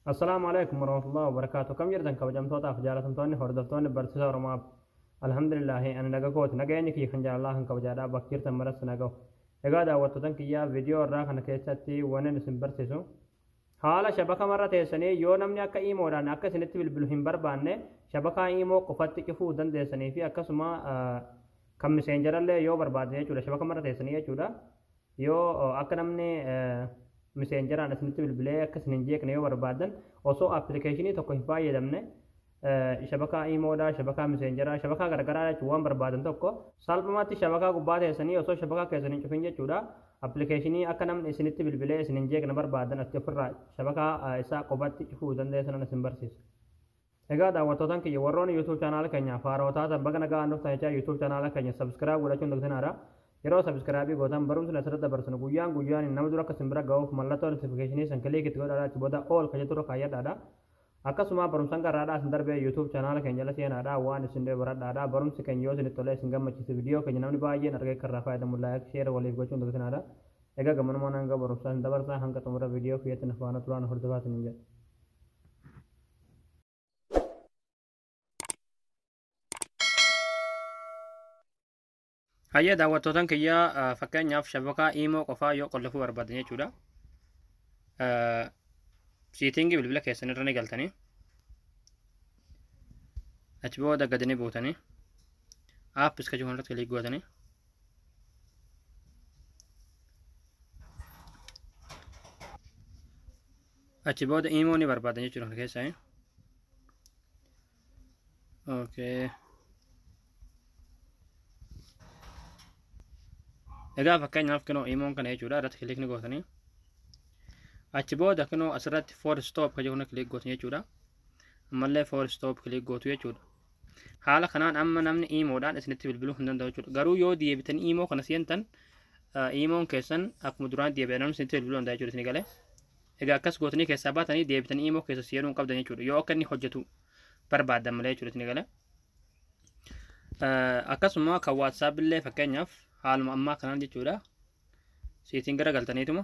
Assalaamu alaikum warahmatullahi wabarakatuh kam jirtan kabajamtootaaf jaalatamtoonni hordoftoonni barsiisa oromaaf alhamdulillaahi ani naga kooti nageenyi kiyya kan jaalalaa kan kabajaadhaa bakka jirtan maratti nagahu egaa daawwattootan kiyyaa viidiyoo irraa kana keessatti wanin isin barsiisu haala shabaka marra teessanii yoo namni akka iimoodhaan akka isinitti bilbilu hin barbaanne shabakaa iimoo qofatti cufuu dandeessanii fi akkasuma kan miseenjarallee yoo barbaadne jechuudha shabaka marra teessanii jechuudha Yoo akka namni miseenjaraan isinitti bilbilee akka isin hin jeeqne yoo barbaadan osoo appilikeeshinii tokko hin fayyadamne shabakaa iimoodhaa, shabakaa miseenjaraa, shabakaa gargaraa jechuun waan barbaadan tokko salphumatti shabakaa gubbaa teessanii osoo shabakaa keessan hin cufin jechuudha. Appilikeeshinii akka namni isinitti bilbilee isin hin jeeqne barbaadan atti ofirraa shabakaa isaa qofatti cufuu dandeessan isin barsiisa. Egaa daawwattootan kiyya warroonni YouTube channel keenya faaroo taatan baga nagaan dhuftan jechaa YouTube channel keenya subscribe godhachuun dagtinaadha. Yeroo subscribe gootan barumsni asirratti dabarsinu guyyaan guyyaan nama dura akka isin bira ga'uuf mallattoo notification san click itti godhaadha achi booda all ka jettu irra kaayyadhaadha. Akkasuma barumsan garraadhaa isin darbee YouTube channel keenya jala seenaadha waan isin dhee baradhaadha barumsi keenya yoo isinitti tolee isin gammachiise video keenya namni baay'een argee akka irraa fayyadamu like share waliif gochuun dagtinaadha. Egaa gammanumaan hanga barumsaa isin dabarsaa hanga xumura video kiyyatti na faana turaan hordofaa isiniin jedha. Hayyee daawwattootan kiyyaa eh, fakkeenyaaf shabakaa iimoo qofaa yoo qollofuu barbaadan jechuudha. Eh, Siitingii bilbila keessan irra ni galtanii. Achi booda gadi ni buutanii. App iska jiru irratti kiliik gootanii. achi booda imoo ni barbaadan jechuudha kan keessaa okay egaa fakkeenyaaf kinoo imoon kana jechuudha irratti kilik ni gootanii achi booda kinoo asirratti for stop kan jedhu kilik gootan jechuudha ammallee for stop kilik gootu jechuudha haala kanaan amma namni iimoodhaan isinitti bilbiluu hin danda'u jechuudha garuu yoo deebitanii iimoo kana seentan iimoon keessan akkuma duraan deebi'an namni isinitti bilbiluu danda'a jechuudha isin galee egaa akkas gootanii keessaa baatanii deebitanii iimoo keessa seenuu hin qabdan jechuudha yoo akka inni hojjetu barbaaddan malee jechuudha isin galee akkasuma kan waatsaap illee fakkeenyaaf haaluma ammaa kanaan jechuudha seetiin gara galtaniituma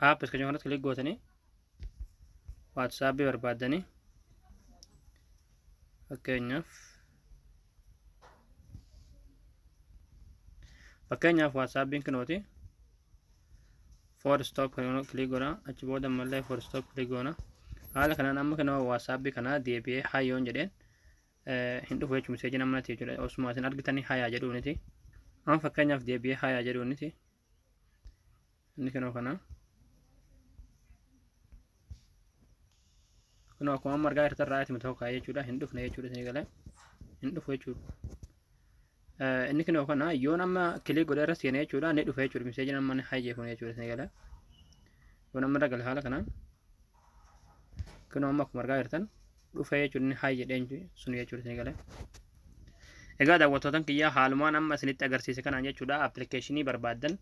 app iskajoo kanatti kilik gootanii waatsaapii barbaaddanii fakkeenyaaf fakkeenyaaf waatsaappiin kinooti for stop kan kilik goona achi booda ammallee for stop kilik goona haala kanaan amma kanoo waatsaappi kanaa deebi'ee hayyoon jedheen hin dhufu jechuun miseejiin amma nati jechuudha osuma isin argitanii hayaa jedhuuniti amma fakkeenyaaf deebi'ee hayaa jedhuuniti inni kunoo kana kunoo akkuma amma argaa jirtan ra'aati miti hokkaa jechuudha hin dhufne jechuudha isin galee hin dhufu jechuudha Inni kinoo kana yoon amma kilik godhee irra seenee jechuudha ni dhufe jechuudha miseejiin amma ni hayyee kun jechuudha isin gala. Yoon amma irra gala haala kanaan kinoo amma akkuma argaa jirtan dhufe jechuudha ni hayyee dheenyu sun jechuudha isin gala. Egaa daawwattootan kiyyaa haalumaan amma isinitti agarsiise kanaan jechuudha appilikeeshinii barbaaddan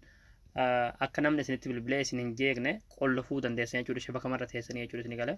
akka namni isinitti bilbilee isin hin jeeqne qollofuu dandeessan jechuudha shabaka marra teessanii jechuudha isin gala.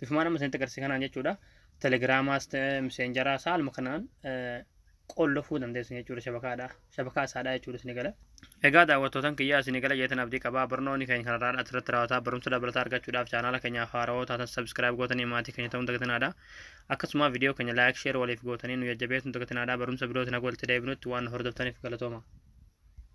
bifumaan amma isinitti agarsiise kanaan jechuudha. Telegiraamaas ta'e miseenjaraas haaluma kanaan qollofuu dandeessu jechuudha shabakaadha. Shabakaa isaadha jechuudha isin gala. Egaa daawwattootan kiyyaa isin gala jeetan abdii qabaa barnoonni keenya kanarraa asirratti raawwataa barumsa dabalataa argachuudhaaf chaanaala keenyaaf haarawoo taatan sabiskiraayib gootanii maatii keenya ta'uun dagatinaadha. Akkasuma viidiyoo keenya laayik sheer waliif gootanii nu jajjabeessuun dagatinaadha barumsa birootiin haga walitti deebinutti waan hordoftaniif galatooma.